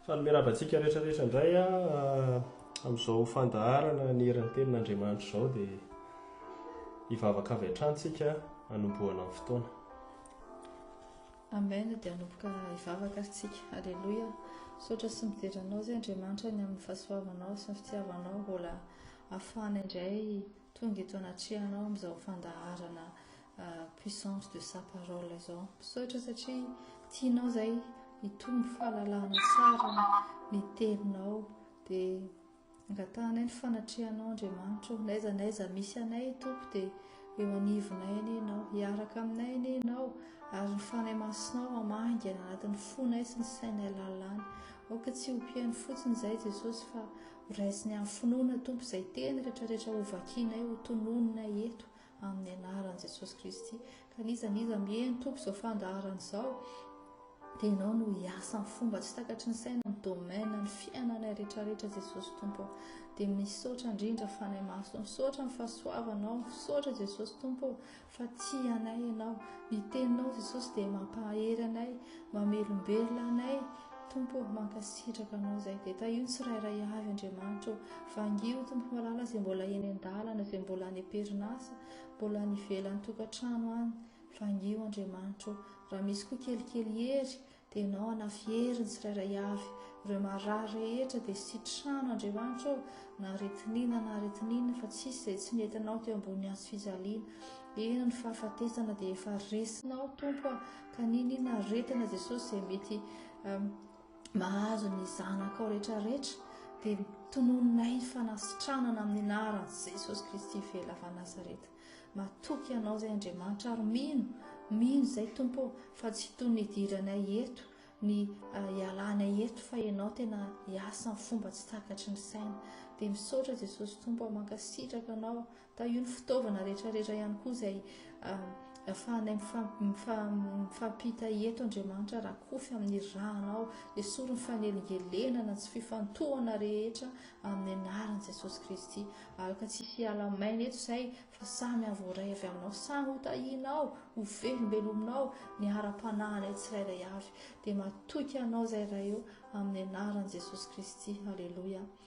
Faly miarahaba antsika rehetra rehetra indray amin'izao fandaharana ny herin'ny tenin'Andriamanitra izao dia hivavaka avy hatrany tsika hanombohana ny fotoana. Amen dia hanomboka hivavaka ary tsika. Alléluia. Misaotra sy midera anao izay Andriamanitra ny amin'ny fahasoavanao sy ny fitiavanao mbola afahana indray tonga eto anatrehanao amin'izao fandaharana puissance de sa parole izao misaotra satria tianao zay hitombo fahalalana tsara ny teninao dia angatahanay ny fanatrehanao andriamanitra o naiza naiza misy anay tompo dia eo anivonay anie ianao hiaraka aminay anie ianao ary ny fanay masinao amaingana anatin'ny fonay sy ny sainay lalàny aoka tsy ho piaino fotsiny izay jesosy fa horaisiny amin'ny finoana tompo izay teny rehetrarehetra hovakinay ho tononina eto Amin'ny anaran'i Jesosy Kristy. Ka n'iza n'iza mihaino Tompo izao fandaharana izao, dia Ianao no hiasa amin'ny fomba tsy takatry ny saina amin'ny domaine ny fiainanay rehetrarehetra Jesosy Tompo. Dia misaotra indrindra Fanahy Masina, misaotra amin'ny fahasoavanao, misaotra Jesosy Tompo fa tia anay Ianao. Ny Teninao Jesosy dia mampahery anay, mamelombelona anay. Tompo ô, mankasitraka Anao izay dia tahio ny tsirairay avy, Andriamanitra ô. Vangio, Tompo malala, izay mbola eny an-dalana, izay mbola any am-perinasa, mbola any ivelan'ny tokantrano any. Vangio, Andriamanitra ô. Raha misy koa kelikely hery, dia Ianao hanafy hery ny tsirairay avy. Ireo marary rehetra, dia sitrano, Andriamanitra ô, na aretin'inona na aretin'inona, fa tsisy izay tsy mety Anao teo ambony hazo fijaliana. Eny, ny fahafatesana dia efa resinao, Tompo a. Ka ninin aretina Jesosy izay mety mahazo ny zanakao rehetra rehetra dia tononinay ny fanasitranana amin'ny anaran'i Jesosy Kristy vela avy Nazareta. Matoky anao izay Andriamanitra ary mino, mino izay Tompo fa tsy toy ny hidiranay eto ny ah, hialanay eto fa ianao tena hiasa ny fomba tsy takatry ny saina. Dia misaotra Jesosy Tompo, mankasitraka anao Tahio ny fitaovana rehetrarehetra ihany koa izay ahafahanay mifampita eto Andriamanitra raha kofy amin'ny ranao. Esory ny fanelingelenana tsy fifantohana rehetra amin'ny anaran'i Jesosy Kristy. Aloka tsy hisy hiala maina eto izay fa samy havoaray avy aminao, samy ho tahianao, ho velombelominao ny ara-panahinay tsirairay avy. Dia matoky anao izay Ray ô, amin'ny anaran'i Jesosy Kristy. Aleloia.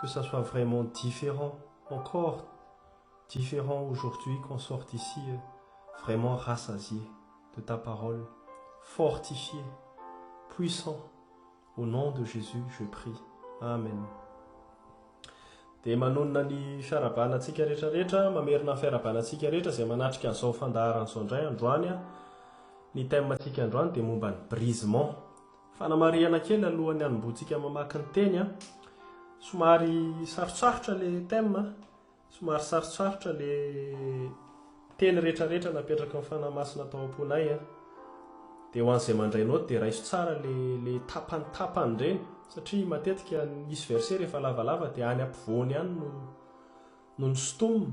que ça soit vraiment different encore different aujourd'hui qu'on sorte ici vraiment rassasié de ta parole fortifié puissant au nom de Jesus je prie amen dia manonona ny fiarabana antsika rehetra rehetra mamerina ny fiarabana antsika rehetra izay manatrika an'izao fandaharana izao indray androany ny thème antsika androany dia momba ny brisement Fanamarihana kely alohan'ny hanombohantsika mamaky ny teny a! Somary sarotsarotra ilay thème a! Somary sarotsarotra ilay teny rehetrarehetra napetraky ny Fanahy Masina tao am-ponay a! Dia ho an'izay mandray naoty dia raiso tsara ilay ilay tapany tapany ireny satria matetika misy verset rehefa lavalava dia any ampovoany any no no ny stomina.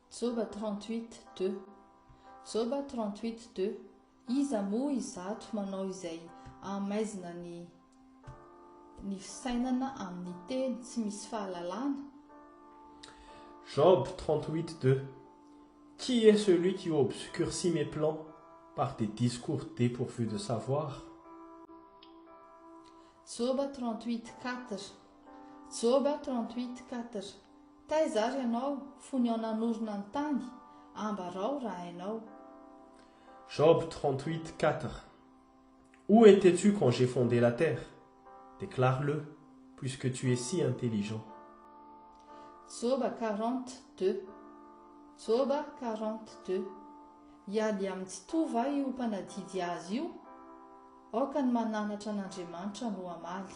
Joba 38 deux. Joba 38 deux. Iza moa izato manao izay ahamaizina ny ny fisainana amin'ny teny tsy misy fahalalana? Job 38 deux. Qui est celui qui obscurcit mes plans par des discours depourvus de savoir? Joba 38 quatre. Joba 38 quatre. Taiza ary ianao fony aho nanorina ny tany? Ambarao raha hainao. Job trente-huit, quatre Où étais-tu quand j'ai fondé la terre? Déclare-le, puisque tu es si intelligent. Joba quarante, deux Joba quarante, deux Hiady amin'ny tsy toa va io mpanadidy azy io? Aoka ny mananatra an'Andriamanitra no hamaly.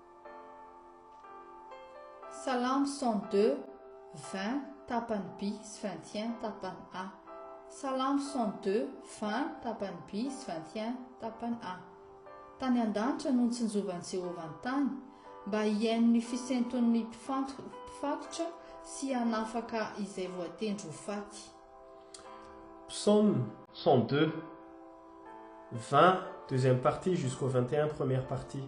Salamo cent deux, vingt, tapany by sy vingt et un, tapany a. Salamo cent deux, vingt, tapany by sy vingt et un, tapany a. Tany an-danitra no nitsinjovan'i Jehovah ny tany, mba hihaino ny fisenton'ny mpifatotra sy hanafaka izay voatendry ho faty. Psaume cent deux, vingt, deuxième partie jusqu'au vingt et un, première partie.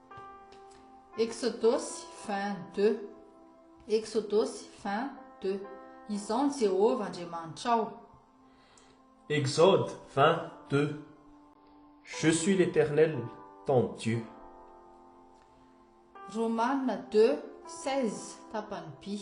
Eksodosy vingt deux Eksodosy vingt deux Izaho ny Jehovah Andriamanitrao. Exode vingt deux Je suis l'Eternel ton Dieu. Romana deux seize tapany by.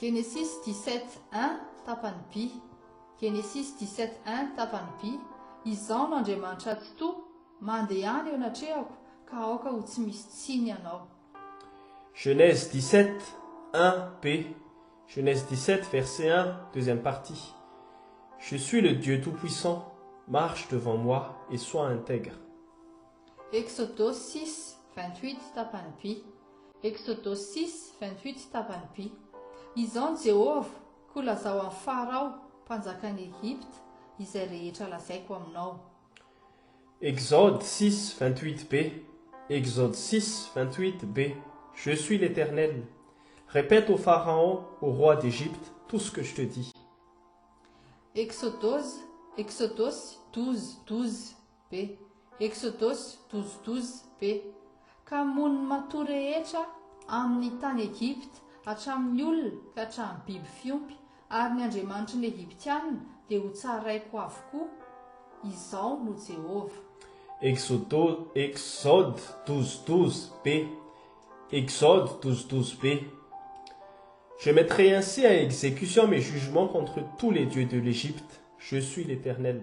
Genesis 17 un, tapany by Genesis 17 un, tapany by Izaho no Andriamanitra Tsitoha, mandehana eo anatrehako, ka aoka ho tsy misy tsiny ianao. Genèse 17 un, p. Genèse 17 verset 1, deuxième partie Je suis le Dieu tout-puissant, marche devant moi et sois intègre. Exodosy six, vingt huit, tapany vy. Exodosy six, vingt huit, tapany vy. Izao ny Jehovah, Koa lazao amin'i Farao, mpanjakan'i Egypta, izay rehetra lazaiko aminao. Exode six, vingt huit be. Exode six, vingt huit be. Je suis l'Eternel. Repète au Pharaon, au roi d'Egypte, tout ce que je te dis. Exodose, Exodosy douze, douze, Be. Exodus douze douze, be. Ka hamono ny matoa rehetra amin' ny tany Egypta, hatramin' ny olona ka hatramin' ny biby fiompy, ary ny andriamanitry ny Egyptiana dia hotsaraiko avokoa. Izaho no Jehovah. Exodo, Exod douze douze, be. Exode douze douze, be. Je mettrai ainsi à exécution mes jugements contre tous les dieux de l'Égypte, je suis l'Éternel.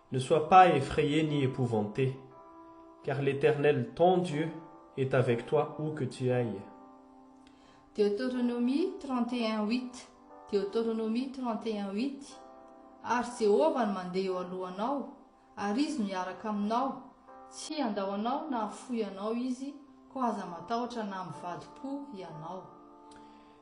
Ne sois pas effrayé ni épouvanté, car l'Eternel ton Dieu est avec toi où que tu ailles. Deotoronomia trente et un huit Deotoronomia trente et un huit Ary Jehovah no mandeha eo alohanao, ary Izy no hiaraka aminao, tsy handao anao na hafoy anao Izy, koa aza matahotra na mivadi-po hianao.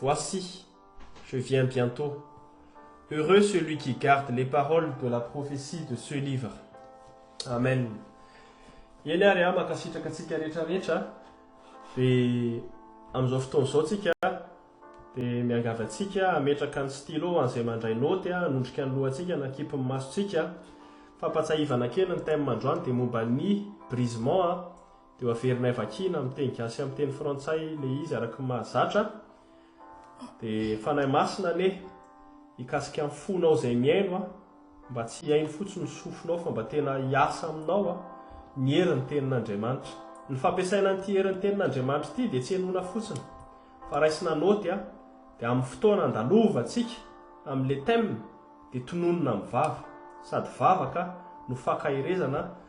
Voici, je viens bientôt, heureux celui qui garde les paroles de la prophetie de ce livre. Amen. Eny ary a, mankasitraka antsika rehetra rehetra. Dia amin'izao fotoana izao tsika dia miangavy antsika hametraka ny stylo an'izay mandray note hanondrika ny lohantsika na kipy ny masontsika. Fampatsahivana kely ny thème androany dia momba ny brisement Dia ho averinay vakiana amin'ny teny gasy sy amin'ny teny frantsay ilay izy araka ny mahazatra. Dia Fanahy Masina anie hikasika ny fonao izay mihaino a, mba tsy hihaino fotsiny ny sofinao fa mba tena hiasa aminao a, ny herin'ny tenin'Andriamanitra. Ny fampiasaina an'ity herin'ny tenin'Andriamanitra ity dia tsy henoina fotsiny fa raisina naoty a, dia amin'ny fotoana andalovantsika amin'ilay thème dia tononina amin'ny vava, sady vavaka no fankaherezana,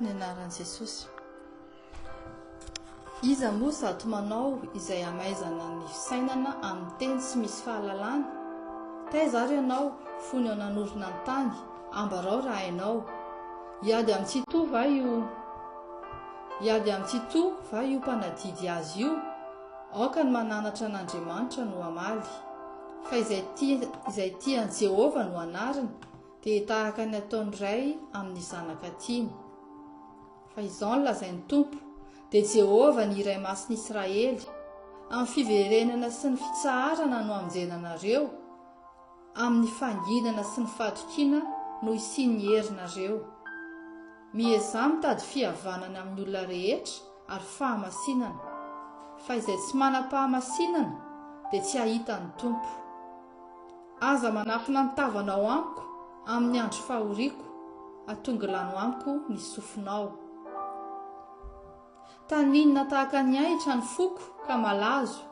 Ny anaran'i Jesosy. Iza moa zato manao izay hamaizana ny fisainana amin'ny teny tsy misy fahalalana? Taiza ary ianao fony ao nanorina ny tany, ambarao raha hainao. Hiady amin'ny tsitoha va io? Hiady amin'ny tsitoha va io mpanadidy azy io? Aoka ny mananatra an'Andriamanitra no hamaly, fa izay tia izay tia an'i Jehovah no anariny, dia tahaka ny ataon'ny ray amin'ny zanaka tiany. Fa izao no lazain'ny Tompo, dia Jehovah ny Iray Masin'i Israely, Amin'ny fiverenana sy ny fitsaharana no hamonjena anareo, amin'ny fanginana sy ny fahatokiana no hisian'ny herinareo. Miezaha mitady fihavanana amin'ny olona rehetra ary fahamasinana, fa izay tsy manam-pahamasinana dia tsy hahita ny Tompo. Aza manafina ny tavanao amiko amin'ny andro fahoriako, atongilano amiko ny sofinao. Taninina tahaka ny ahitra ny foko ka malazo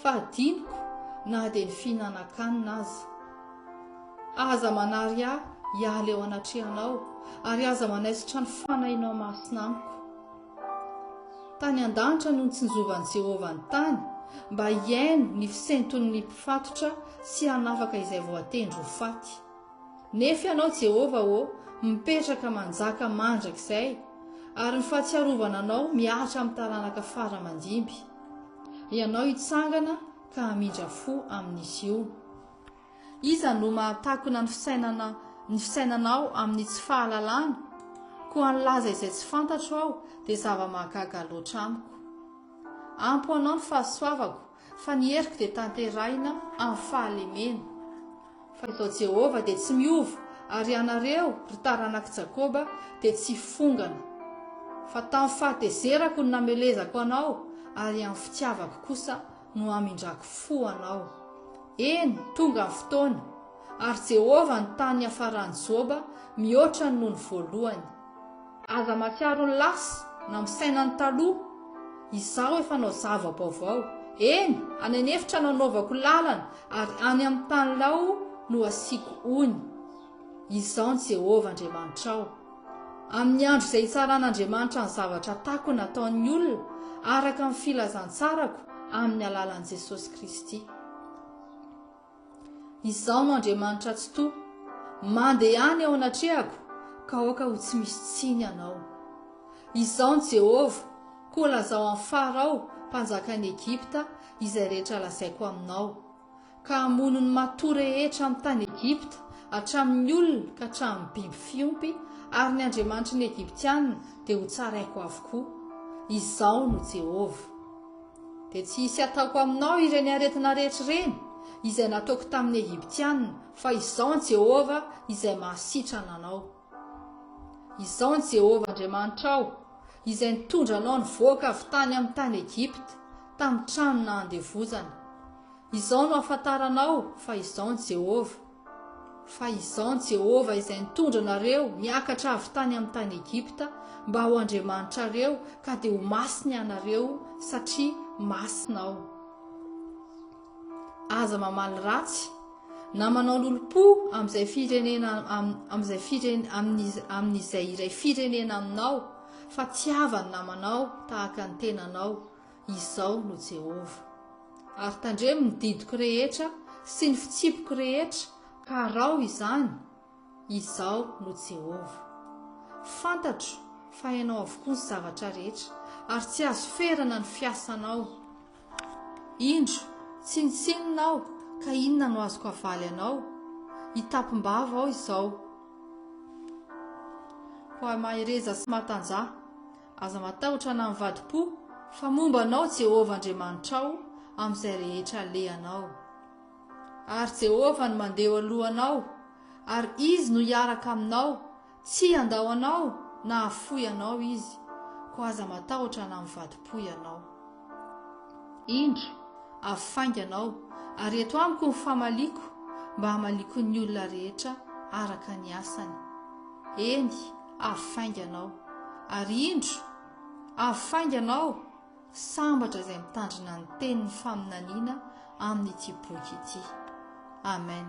fa adinoko na dia ny fihinanan-kanina aza. Aza manary ahy hiala eo anatrehanao ary aza manaisotra ny fanahinao masina amiko. Tany an-danitra no nitsinjovan'i Jehovah ny tany mba hihaino ny fisenton'ny mpifatotra sy hanafaka izay voatendry ho faty. Nefa Ianao, Jehovah ô, mipetraka manjaka mandrakizay, ary ny fahatsiarovana Anao mihatra amin'ny taranaka fara aman-dimby. Ianao hitsangana ka hamindra fo amin'izy io. Iza no mahatakona ny fisainana ny fisainanao amin'ny tsy fahalalana? Koa nilaza izay tsy fantatro aho dia zava-mahagaga loatra amiko. Ampy ho Anao ny fahasoavako, Fa ny heriko dia tanterahina amin'ny fahalemena. Fa izao Jehovah dia tsy miova, ary ianareo, ry taranak'i Jakoba, dia tsy hifongana. Fa tamin'ny fahatezerako no namelezako anao, ary amin'ny fitiavako kosa no hamindrako fo anao. Eny, tonga ny fotoana, ary Jehovah nitaha ny hiafaran'i Joba mihoatra ny nony voalohany. Aza mahatsiaro ny lasa, na misaina ny taloha, Izaho efa hanao zava-baovao. Eny, any an'efitra no hanaovako lalana, ary any amin'ny tany lao no hasiako ony. Izaho ny Jehovah Andriamanitrao. Amin'ny andro izay hitsaran'Andriamanitra ny zavatra takona ataon'ny olona, araka ny filazantsarako, amin'ny alalan'i Jesosy Kristy. Izaho no Andriamanitra Tsitoha. Mandehana eo anatrehako, ka aoka ho tsy misy tsiny ianao. Izaho ny Jehovah, koa lazao amin'ny Farao, mpanjakan'i Egypta, izay rehetra lazaiko aminao, ka hamono ny matoa rehetra amin'ny tany Egypta, hatramin'ny olona ka hatramin'ny biby fiompy, ary ny andriamanitry ny Egyptiana dia hotsaraiko avokoa. Izaho no Jehovah. Dia tsy hisy hataoko aminao ireny aretina rehetra ireny izay nataoko tamin'ny Egyptianina, fa Izaho ny Jehovah izay mahasitrana anao. Izaho ny Jehovah Andriamanitrao, izay nitondra anao nivoaka avy tany amin'ny tany Egypta, tamin'ny tranona andevozana. Izao no ahafantaranao fa Izaho ny Jehovah. Fa izao Jehovah izay nitondra anareo niakatra avy tany amin'ny tany Egypta mba ho Andriamanitrareo ka dia ho masina ianareo satria masina Aho. Aza mamaly ratsy na manao lolompo amin'izay firenena amin'izay firenena amin'izay iray firenena aminao fa tiava ny namanao tahaka ny tenanao. Izaho no Jehovah. Ary tandremo ny didiko rehetra sy ny fitsipiko rehetra, ka araho izany. Izaho no Jehovah. Fantatro fa hainao avokoa ny zavatra rehetra, ary tsy azo ferana ny fiasanao. Indro, tsinontsinona aho, ka inona no azoko havaly anao? Hitapim-bava aho izao. Hoy aho, Mahereza sy matanjaha. Aza matahotra na mivadi-po, fa momba anao Jehovah Andriamanitrao amin'izay rehetra alehanao. Ary Jehovah no mandeha eo alohanao, ary Izy no hiaraka aminao, tsy handao anao na hahafoy anao Izy, koa aza matahotra na mivadi-po ianao. Indro, avy faingana aho, ary eto amiko ny famaliako, mba hamaliako ny olona rehetra araka ny asany. Eny, avy faingana aho. Ary indro, avy faingana aho, sambatra izay mitandrina ny tenin'ny faminaniana amin'ity boky ity. Amen.